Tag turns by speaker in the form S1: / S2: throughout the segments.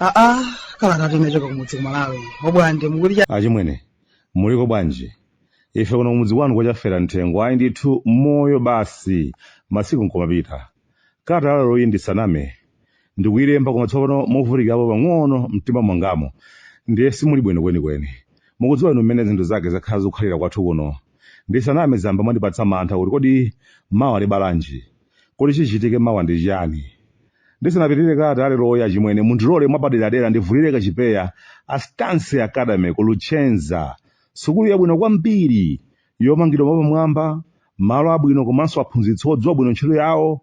S1: aa kalatatu imachoka kumudzi kumalawi obwande
S2: achimwene muliko bwanji ife kuno kumudzi kwanu kwachafera mthengo ayi ndithu moyo basi masiku nkumapita Kalata yaleroyi ndisaname ndikuilemba koma tsopano movutikirapo pang'ono m'mtima mwangamu ndiye simuli bwino kwenikweni. Mukudziwa inu mmene zinthu zake zakhala zikukhalira kwathu kuno. Ndisaname zayamba mwandipatsa mantha kuti kodi mawa libala chiyani? Kodi chichitike mawa ndi chiyani? Ndisanapitirire kalata yaleroyi achimwene, mundilole mwapaderadera ndivulire kachipeya a Stansi Academy ku Luchenza, sukulu yabwino kwambiri yomangidwa mwapamwamba, malo abwino komanso aphunzitsi odziwa bwino ntchito yawo,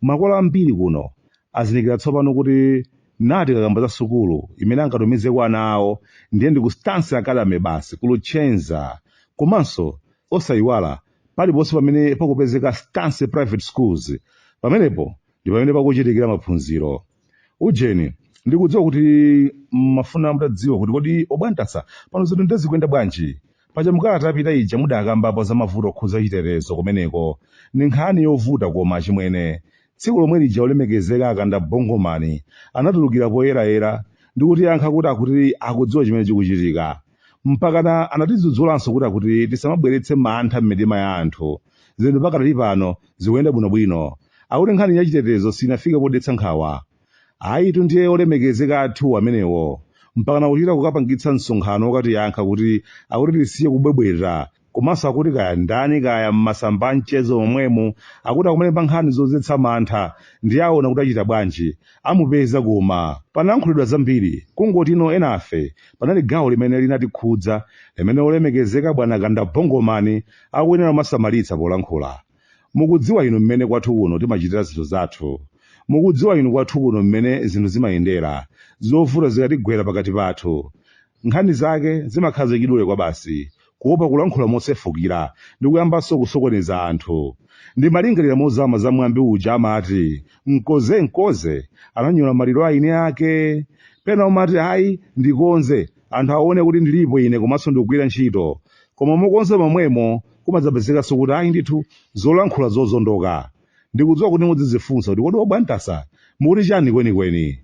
S2: makolo ambiri kuno azindikira tsopano kuti nati tikakamba za sukulu imene angatumizeko ana awo ndiye ndi ku Stansi Academy basi ku Luchenza. Komanso osayiwala paliponse pamene pakupezeka Stansi Private Schools, pamenepo ndi pamene pakuchitikira maphunziro. Ujeni, ndikudziwa kuti mmafuna mutadziwa kuti kodi obwantasa pano zinthu nde zikuyenda bwanji. Paja mukalata yapita ija mudakambapo za mavuto okhudza chitetezo kumeneko. Ndi nkhani yovuta koma achimwene. Tsiku lomwe lija olemekezeka akanda Bongomani anatulukira poyerayera ndikutiyankha kuti akuti akudziwa chimene chikuchitika. mpakana anatidzudzulanso kuti akuti tisamabweretse mantha m'mitima ya anthu zinthu pakadali pano zikuyenda bwinobwino akuti nkhani ya chitetezo sinafike podetsa nkhawa ayitu ndiye olemekezeka athu amenewo mpakana kuchita kukapangitsa msonkhano wokatiyankha kuti akuti tisiye kubwebweta komanso akuti kaya ndani kaya m'masamba a mchezo momwemu akuti akumalemba nkhani zodzetsa mantha nde aona kuti achita bwanji amupeza koma panayankhulidwa zambiri kungotino enafe panali gawo limene linatikhudza limene olemekezeka bwana kanda bongomani akuyenera kumasamalitsa polankhula Mukudziwa inu mmene kwathu kuno timachitira zinthu zathu. Mukudziwa inu kwathu kuno mmene zinthu zimayendera, zovuta zikatigwera pakati pathu. Nkhani zake zimakhala zachidule kwabasi, kuwopa kulankhula mosefukira ndi kuyambanso kusokoneza anthu. Ndimalingalira mozama za mwambi uja amati, Mkoze, mkoze, ananyola maliro a eniake. Pena umati, Ayi, ndikonze, anthu awone kuti ndilipo ine komanso ndikugwira ntchito. Koma mokonza momwemo, kumadzapezekanso kuti ayi ndithu zolankhula zozondoka ndikudziwa kuti muzidzifunsa kuti kodi obwantasa mukuti chani kwenikweni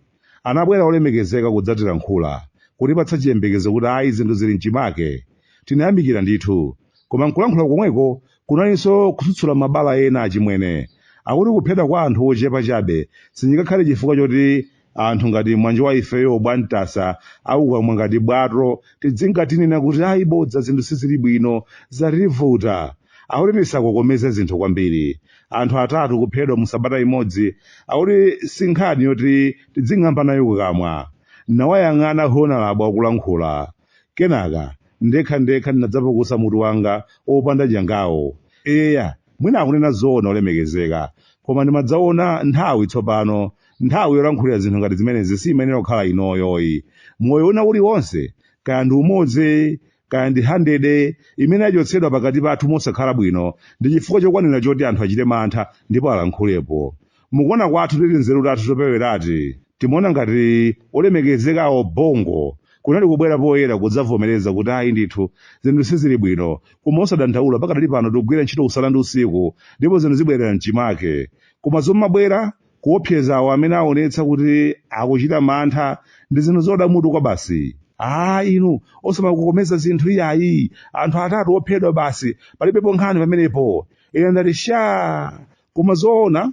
S2: anabwera olemekezeka kudzatilankhula kutipatsa chiyembekezo kuti ayi zinthu zili mchimake tinayamikira ndithu koma nkulankhula komweko kunalinso kutsutsula mabala ena achimwene akuti kuphedwa kwa anthu ochepa chabe sichingakhale chifukwa choti anthu ngati mwanje wa ifeyo obwantasa kukamwa ngati bwato tidzingatinena kuti ayi bodza zinthu sizili bwino zativuta akuti tisakokomeze zinthu kwambiri anthu atatu kuphedwa mu sabata imodzi akuti si nkhani yoti tidzing'amba nayo kukamwa ndawayang'ana honalabo akulankhula kenaka ndekha ndekha ndinadzapukusa mutu wanga opanda nyangawu eya mwina akunena zoona olemekezeka koma ndimadzaona nthawi tsopano nthawi yolankhulira zinthu ngati zimenezi siyimayenera kukhala inoyoyi moyo una uliwonse kaya ndi umodzi kaya ndi handede umene wachotsedwa pakati pathu mosakhala bwino ndi chifukwa chokwanira choti anthu achite mantha ndipo alankhulepo mukuona kwathu tinzeru tathu topewerati timaona ngati olemekezekawo bongo kunali kubwera poyera kudzavomereza kuti ayi ndithu zinthu sizili bwino koma osadandaula pakadali pano tikugwira ntchito usana ndi usiku ndipo zinthu zibwerera mchimake koma zomabwera Kuopseza awo amene aonetsa kuti akuchita mantha ndi zinthu zoda mutu kwabasi. Aaa inu, osamakokomeza zinthu iyayi, anthu atatu ophedwa basi, palibepo nkhani pamenepo. Ine ndati shaa! Koma zoona?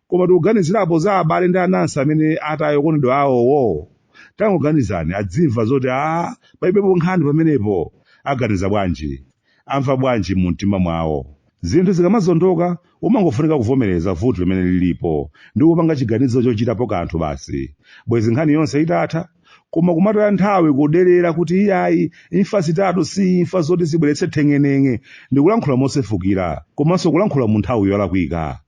S2: Koma tikuganizirapo za abale ndi anansi amene ataya okondedwa awowo? Tangoganizani, adzimva zoti aah palibepo nkhani pamenepo, aganiza bwanji? amva bwanji mu mtima mwawo. Zinthu zikamazondoka, umangofunika kuvomereza vuto limene lilipo ndi kupanga chiganizo chochitapo kanthu basi. Bwezi nkhani yonse itatha, koma kumataya nthawi kuderera kuti iyayi imfa zitatu si imfa zoti zibweretse theng'eneng'e ndi kulankhula mosefukira komanso kulankhula mu nthawi yolakwika.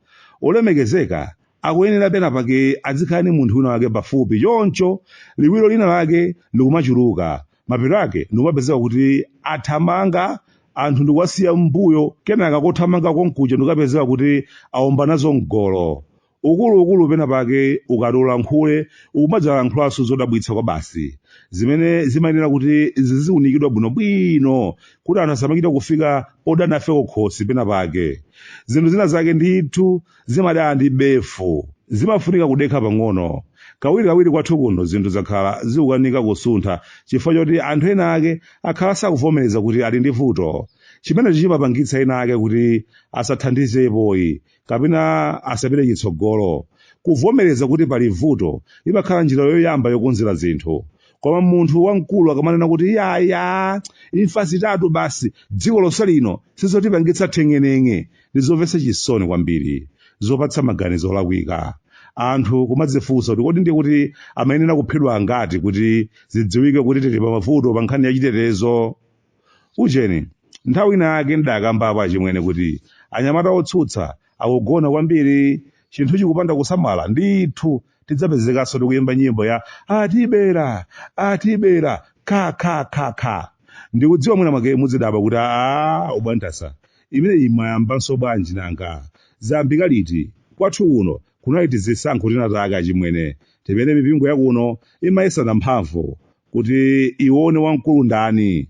S2: Olemekezeka, akuyenera penapake adzikhala ndi munthu wina wake pafupi choncho liwiro lina lake likumachuluka mapeto ake ndikumapezeka kuti athamanga anthu n'kuwasiya m'mbuyo kenaka kothamanga konkuja ndikukapezeka kuti aomba nazo mgolo ukuluukulu pena pake ukati ulankhule ukumadzalankhulanso zodabwitsa kwa basi zimene zimayenera kuti ziziunikidwa bwinobwino kuti anthu asamachita kufika podana ife kukhosi pena pake zinthu zina zake ndithu zimadana ndi befu. Zimafunika kudekha pang'ono. Kawirikawiri kwathu kuno zinthu zakhala zikukanika kusuntha chifukwa choti anthu enaake akhala sakuvomereza kuti ali ndi vuto. Chimenecho chimapangitsa enaake kuti asathandizepoyi kapena asapite chitsogolo. Kuvomereza kuti pali vuto imakhala njira yoyamba yokonzera zinthu. Koma munthu wamkulu akamanena kuti yaya, imfa zitatu basi, dziko lonse lino sizotipangitsa theng'eneng'e, Ndi zomvetsa chisoni kwambiri, zopatsa maganizo olakwika, anthu kumadzifunsa kuti kodi ndiye kuti amayenera kuphedwa angati kuti zidziwike kuti tili pamavuto pa nkhani ya chitetezo? Ujeni, nthawi ina yake ndidakambapo achimwene kuti anyamata otsutsa akugona kwambiri. Chinthu chikupanda kusamala, ndithu tidzapezekanso tikuyimba nyimbo ya atibera, atibera, kha kha kha kha. Ndikudziwa mwina mwake mudzidabwa kuti aa, ubwantasa, Imeneyi mwayambanso bwanji nanga? Zayambika liti? Kwathu kuno kunali tizisankho tinatake achimwene timene mipingo yakuno imayesana mphamvu kuti iwone wamkulu ndani.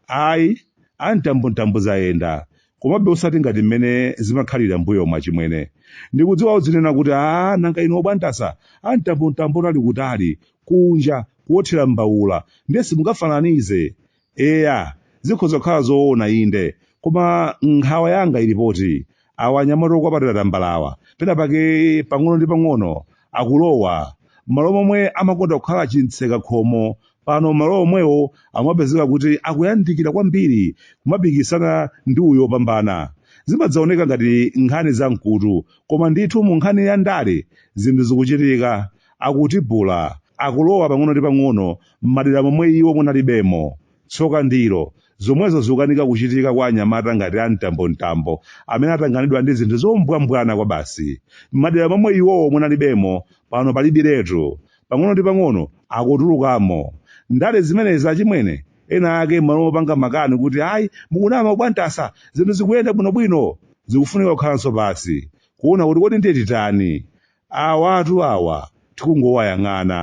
S2: Ayi, a mtambontambo zayenda, komabe osati ngati mmene zimakhalira mbuyomu achimwene. Ndikudziwa mudzinena kuti aah nanga inu obwantasa a mtambontambo anali kutali, kunja, kuothera mbaula, ndiye simungafananize. Eya, zikhoza kukhala zoona inde, koma nkhawa yanga ili poti awa anyamata okwapatira tambalawa penapake pang'ono ndi pang'ono akulowa m'malo momwe ankakonda kukhala chimtseka khomo pano m'malo omwewo amapezeka kuti akuyandikira kwambiri kumapikisana ndi uyo opambana. Zimadzaoneka ngati nkhani za mkutu, koma ndithu mu nkhani ya ndale zinthu zikuchitika, akutibula, akulowa pang'ono ndi pang'ono m'madera momwe iwo munalibemo. Tsoka ndilo, zomwezo zikukanika kuchitika kwa anyamata ngati a Mtambomtambo amene atanganidwa ndi zinthu zombwambwana kwabasi. M'madera momwe iwowo munalibemo, pano palibiretu. Pang'ono ndi pang'ono akutulukamo. Ndale zimenezi achimwene, ena ake m'malo mopanga makani kuti ayi mukunama Bwantasa zinthu zikuyenda bwinobwino, zikufunika kukhalanso pansi kuona kuti kodi ndiye titani? Awatu awa tikungowayang'ana,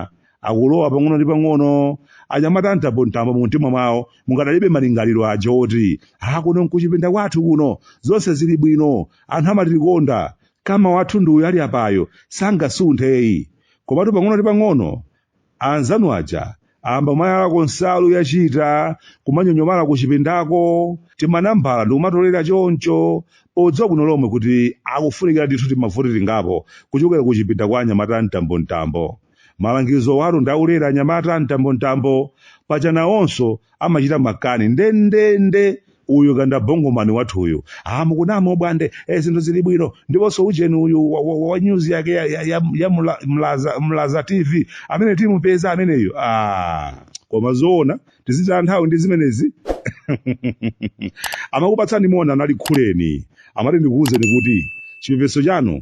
S2: akulowa pang'ono ndi pang'ono. Anyamata a mtambomtambo mumtima mwawo mukadalipobe malingaliro aja woti, Ha, kuno n'kuchipinda kwathu kuno, zonse zili bwino, anthu amatikonda, kama wathu ndi uyu ali apayu, sangasunthe ayi. Komatu pang'ono ndi pang'ono, Anzanu aja ayamba kumayalako nsalu achita kumanyonyomala kuchipindako, timanambala ndikumatolera choncho podziwa bwino lomwe kuti akufunikira ndithu timavoti tingapo kuchokera kuchipinda kwa anyamata a mtambomtambo. Malangizowatu ndi aulele anyamata a mtambomtambo, paja nawonso amachita makani ndendende uyu kanda bongomani wathu uyu ah mukunama ubwande eh, zinthu zili bwino ndiponso ujeni uyu wa, wa, wa news yake ya, ya, ya, ya mla, mlaza, mlaza tv amene timupeze ameneyu ah koma zoona tizitaya nthawi ndi zimenezi amakupatsani moni anali khuleni amati ndikuwuzeni kuti chipepeso chanu